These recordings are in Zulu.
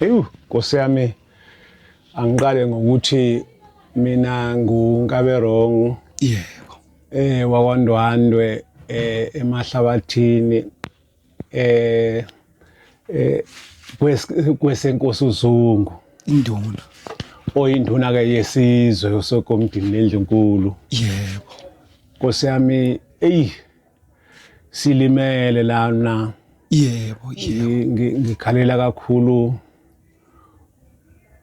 Ewu, Nkosi yami angiqale ngokuthi mina nguNkaberong yebo eh wakwaNdwandwe eh emahlabathini eh eh kwes- kwesenkosi uZungu induna oyinduna ke yesizwe usokomdini lendlunkulu yebo Nkosi yami eyi silimele lana yebo yebo Ngi- ngi- ngikhalela kakhulu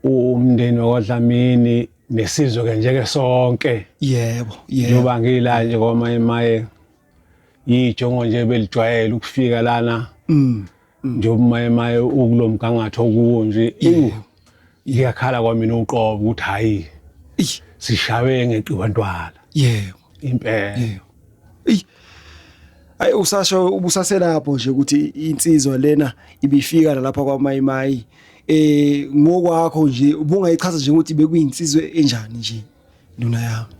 umndeni wakwadlamini nesizwe ke njeke sonke yebo yebo njengoba ngila nje kwamaye maye yijongo nje belijwayele ukufika lana Mm, njengoba umayemaye ukulo mgangatho okuwo nje ewu ngiyakhala kwamina uqobo ukuthi hhayi Eish, sishawe ngeqiwa ntwala yebo impela yebo eyi ayi usasho ubusaselapho nje ukuthi insizwa lena ibifika nalapha kwamayimayi eh ngokwakho nje ubungayichaza nje ukuthi bekuyinsizwe enjani nje nduna yami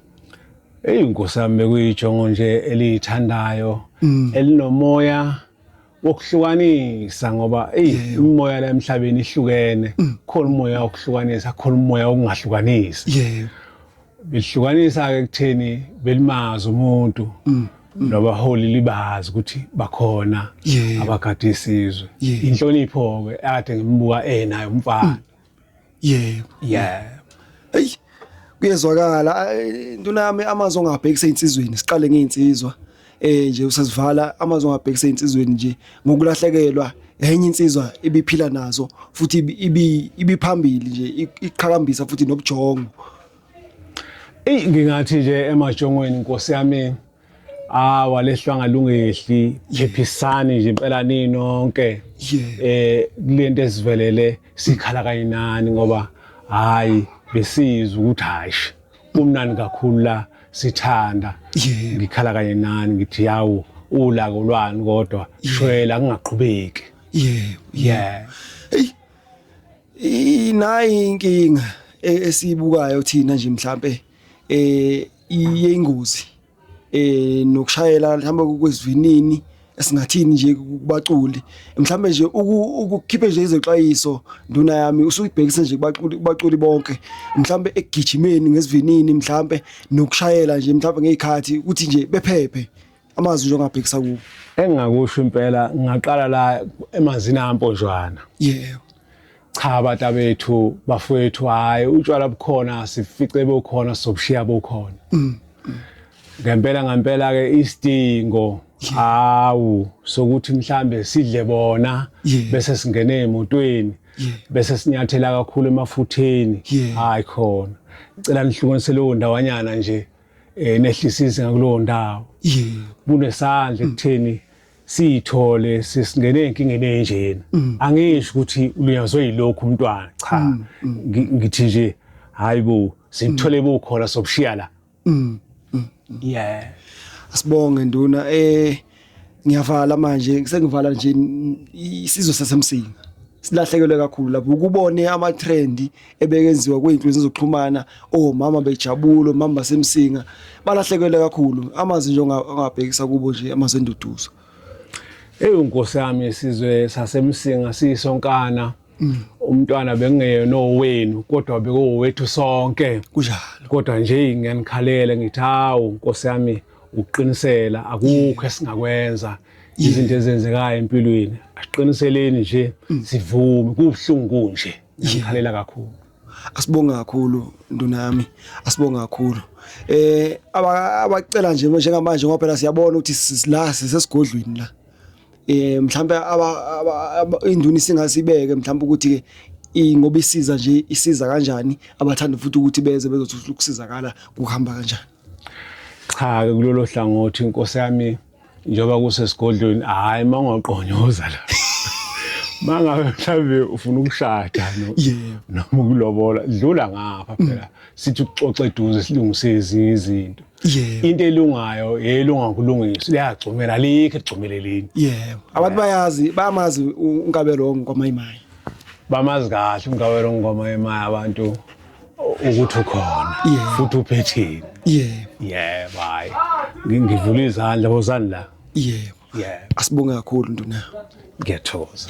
eyi nkosi yami bekuyijongo nje eliyithandayo elinomoya wokuhlukanisa ngoba eyi imimoya la emhlabeni ihlukene mm. khona umoya wokuhlukanisa khona umoya wokungahlukanisi yebo bihlukanisa ke kutheni belimaza umuntu mm. Mm. nabaholi libazi ukuthi bakhona abagade isizwe inhlonipho ke ade ngimbuka enayo umfana yebo yeah hey kuyezwakala intuna yami amazwi ongabhekisa insizweni siqale ngeinsizwa eh nje usazivala amazwi ongabhekisa insizweni nje ngokulahlekelwa enye insizwa ibiphila nazo futhi ibi ibiphambili nje iqhakambisa futhi nobujongo Ey ngingathi nje emajongweni inkosi yami Ah walehlwa ngalungehli phephisani nje impela ninonke eh kulento esivelele sikhala kanye nani ngoba hayi besizwa ukuthi hayi kumnani kakhulu la sithanda ngikhala kanye nani ngithi yawo ulako lwani kodwa shwela kungaqhubeki yebo yeah hey inayi inkinga e-, esiyibukayo thina nje mhlambe eh iyingozi eh nokushayela mhlawumbe kwezivinini esingathini nje kubaculi mhlawumbe nje ukukhiphe nje izexwayiso nduna yami usuyibhekise nje kubaculi kubaculi bonke mhlawumbe ekugijimeni ngesivinini mhlawumbe nokushayela nje mhlawumbe ngezikhathi ukuthi nje bephephe amazwi nje ongabhekisa kuwo engingakusho impela ngingaqala la emanzini amponjwana yebo cha bata bethu bafowethu hayi utshwala bukhona sifice bokhona sobushiya bokhona mm. ngempela ngempela ke isidingo hawu sokuthi mhlambe sidle bona bese singena emotweni bese sinyathela kakhulu emafutheni hayi khona cela nihlukanise leyo ndawanyana nje eh nehlisise ngakulowo ndawo kunesandla ekutheni siyithole sesingene enkingeni enjena mm. angisho ukuthi ulinyazwe yilokhu umntwana cha mm, mm. ngithi nje hayibo sithole bukhona sobushiya la yeah asibonge nduna eh ngiyavala manje sengivala nje isizwe sasemsinga silahlekelwe kakhulu lapho ukubone ama trend ebekenziwa kwezinkundla zokuxhumana oh mama bejabulo mama basemsinga balahlekelwe kakhulu amazi nje ongabhekisa kubo nje amazenduduzo Eyi nkosi yami isizwe sasemsinga siyisonkana Mm. umntwana bekungeyena owenu kodwa bekowethu sonke kunjalo kodwa nje ngiyanikhalele ngithi hawu nkosi yami ukuqinisela akukho esingakwenza izinto ezenzekayo empilweni asiqiniseleni nje mm. sivume kubuhlungu nje ngikhalela kakhulu asibonge kakhulu nduna yami asibonge kakhulu eh abacela nje njengamanje ngoba phela siyabona ukuthi la sesigodlweni la eh mhlawumbe induna singasibeke mhlawumbe ukuthi ke ingoba isiza nje isiza kanjani abathanda futhi ukuthi beze bezothola ukusizakala kuhamba kanjani cha ke kulolo hlangothi inkosi yami njengoba kusesigodlweni hayi mangaqonyoza la mangabe mhlawumbe ufuna ukushada noma ukulobola dlula ngapha phela sithi uxoxe eduze silungise ezinye izinto yebo into elungayo yelunga ukulungisa liyagcumela alikho egcumelelini yebo abantu bayazi bamazi u- unkabelo wongoma imayi bamazi kahle umgawelo ngoma yemaya abantu ukuthi ukhona Yebo. futhi uphetheni yebo yebo hayi Ngi- ngivula izandla wozani la yebo yebo asibonge kakhulu nduna ngiyathokoza